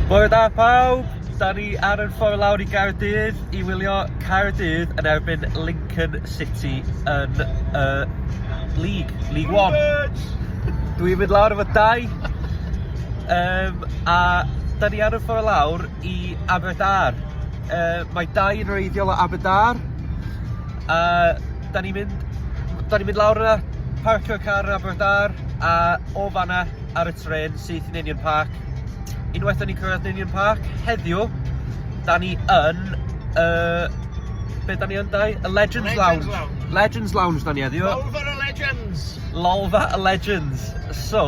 Bore da pawb! Da ni ar yr ffordd lawr i Gaerdydd i wylio Caerdydd yn erbyn Lincoln City yn y uh, League, League One. Dwi'n mynd lawr efo dau. Um, a da ni ar y ffordd lawr i Aberdar. Uh, mae dau yn reiddiol o Aberdar. A da ni'n mynd, da ni mynd lawr yna, parcio car yn Aberdar a o fanna ar y tren syth i Ninian Park. Unwaith o'n i'n cyrraedd Ninian Park, heddiw, da ni yn... Uh, be da ni yn dau? Y Legends, Legends Lounge. Lounge. Legends Lounge da ni heddiw. Lolfa y Legends. Lolfa y Legends. So,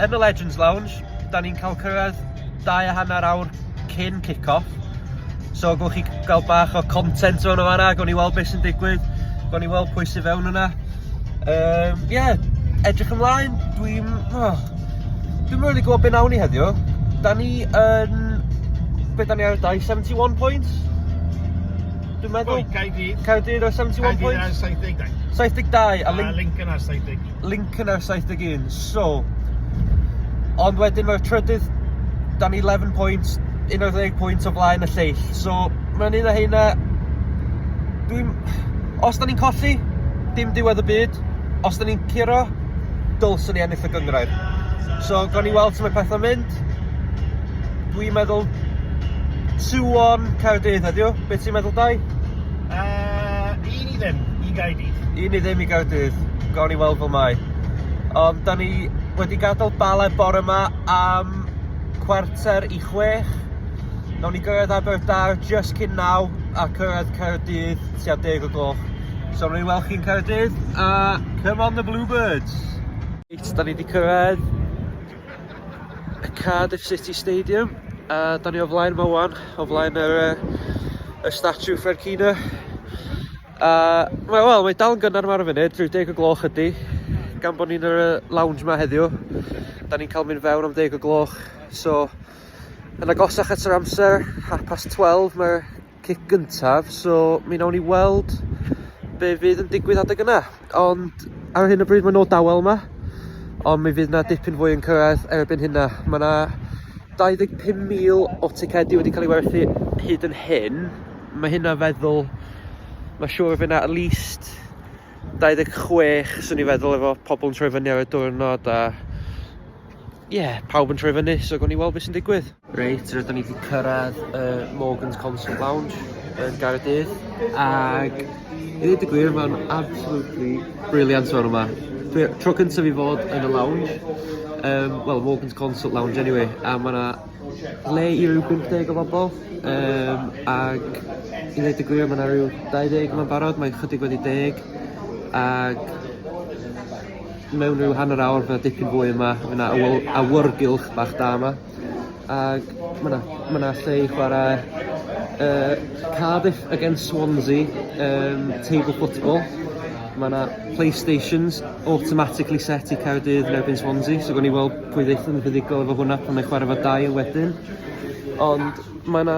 yn y Legends Lounge, da ni'n cael cyrraedd dau a hanner awr cyn kick-off. So gwch chi gael bach o content o'n o fanna, gwn i weld beth sy'n digwydd, gwn i weld pwy sy'n fewn yna. Ie, um, yeah, edrych ymlaen, dwi'n... Oh, dwi'n really gwybod beth nawn ni heddiw. Da ni yn... Be da ni ar y dau? 71 points? Dwi'n meddwl. Oi, Caerdydd. Caerdydd ar 71 points? Caerdydd ar 72. 72, a Lincoln ar 70. link yna 71 so ond wedyn mae'r trydydd dan ni 11 pwynt 11 pwynt o flaen y lleill so mae'n un o heina dwi'n os da ni'n colli dim diwedd y byd os da ni'n curo dylswn ni ennill y gyngrair so gawn ni weld sut mae pethau'n mynd dwi'n meddwl 2 on Caerdydd heddiw beth ti'n meddwl Dai? Uh, i ddim i Gaerdydd. I ni ddim i Gaerdydd. Gawn ni weld fel mae. Ond da ni wedi gadael Bala bore yma am chwarter i chwech. Nawn ni gyrraedd Aberdâr just cyn naw a cyrraedd Caerdydd tua deg o gloch. So rwy'n weld chi'n Caerdydd a come on the Bluebirds! Reit, da ni wedi cyrraedd Y Cardiff City Stadium a da ni o flaen yma wan, o flaen yr, uh, y statue Fercina. A mae wel, mae dal yn gynnar yma ar y funud, rhyw deg o gloch ydy, gan bod ni'n yr lounge yma heddiw. Da ni'n cael mynd fewn am deg o gloch, so yn agosach at yr amser, half past 12, mae'r cic gyntaf, so mi wnawn ni weld be fydd yn digwydd adeg yna. Ond ar hyn o bryd mae nhw dawel yma, ond mi fydd yna dipyn fwy yn cyrraedd erbyn hynna. Mae yna 25,000 o ticedi wedi cael ei werthu hyd yn hyn. Mae hynna feddwl, mae siŵr fydd yna at least 26 swn i feddwl efo pobl yn troi fyny ar y diwrnod a Ie, pawb yn troi fyny, so gawn ni weld beth sy'n digwydd. Reit, rydyn ni wedi cyrraedd y Morgan's Concert Lounge yn Gaerdydd, ac i ddweud y gwir, mae'n absolutely brilliant o'r yma. Dwi, tro cyntaf i fod yn y lounge, um, well, Morgan's Concert Lounge anyway, a mae yna le i ryw 50 o bobl, um, ac i ddweud y gwir, mae yna rhyw 20 yma'n barod, mae'n chydig wedi deg, ac mewn rhyw hanner awr fydd 'na dipyn fwy yma, fydd 'na awy- awyrgylch bach da yma, ac mae 'na ma' 'na lle i chwarae uh, Cardiff against Swansea um, table football. Mae 'na Playstations automatically set i Caerdydd yn erbyn Swansea, so gawn ni weld pwy ddeith yn fuddugol efo hwnna pan mae chwarae fo dail wedyn. Ond mae 'na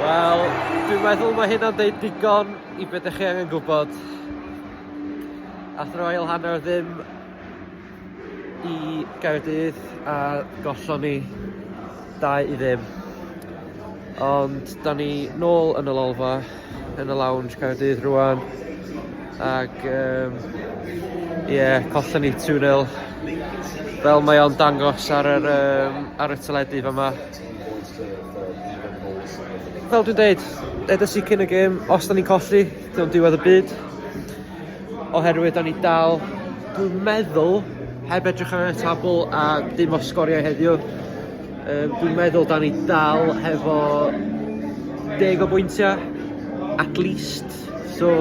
Wel, dwi'n meddwl mae hynna'n dweud digon i beth ydych chi angen gwybod. Ath Royal Hanner ddim i Gaerdydd a gollon ni dau i ddim. Ond da ni nôl yn y lolfa yn y lounge Caerdydd rwan ac um, yeah, collon ni 2-0 fel mae o'n dangos ar, yr, um, ar y teledu fa yma. Fel dwi'n dweud, edrych i cyn y gêm, os da ni'n colli, dyna'n diwedd y byd. Oherwydd da ni dal, dwi'n meddwl, heb edrych ar y tabl a dim o sgoriau heddiw, Yym dwi'n meddwl da ni dal hefo deg o bwyntiau at least so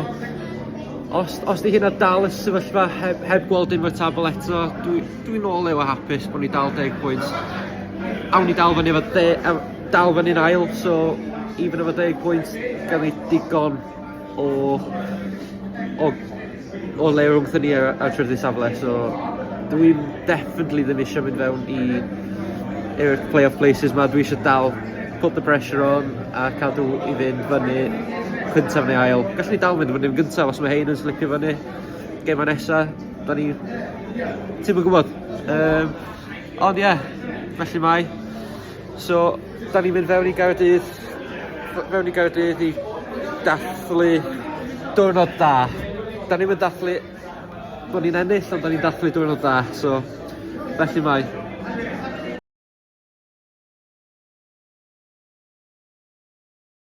os os 'di hynna dal y sefyllfa heb heb gweld unrhyw tabl eto dwi dwi'n ôl Leo a hapus bod ni dal deg pwynt. Awn ni dal fyny efo de- ew- dal fyny'n ail so even efo deg pwynt gawn ni digon O o o le rownd thŷ ni a a trw'r ddwy safle so dw i'n definitely ddim isio mynd fewn i i'r play-off places 'ma, dwi isio dal put the pressure on a cadw i fynd fyny cyntaf neu ail. Gallwn ni dal mynd fyny yn gyntaf os mae hein yn slipio fyny gemau nesa, 'dan ni ti'm yn gwbod. Yym ond ie, felly mae So, da ni'n mynd fewn i Gaerdydd, fewn i Gaerdydd i dathlu diwrnod da. Da ni'n mynd dathlu bod ni'n ennill, ond da ni'n dathlu diwrnod da, so felly mae.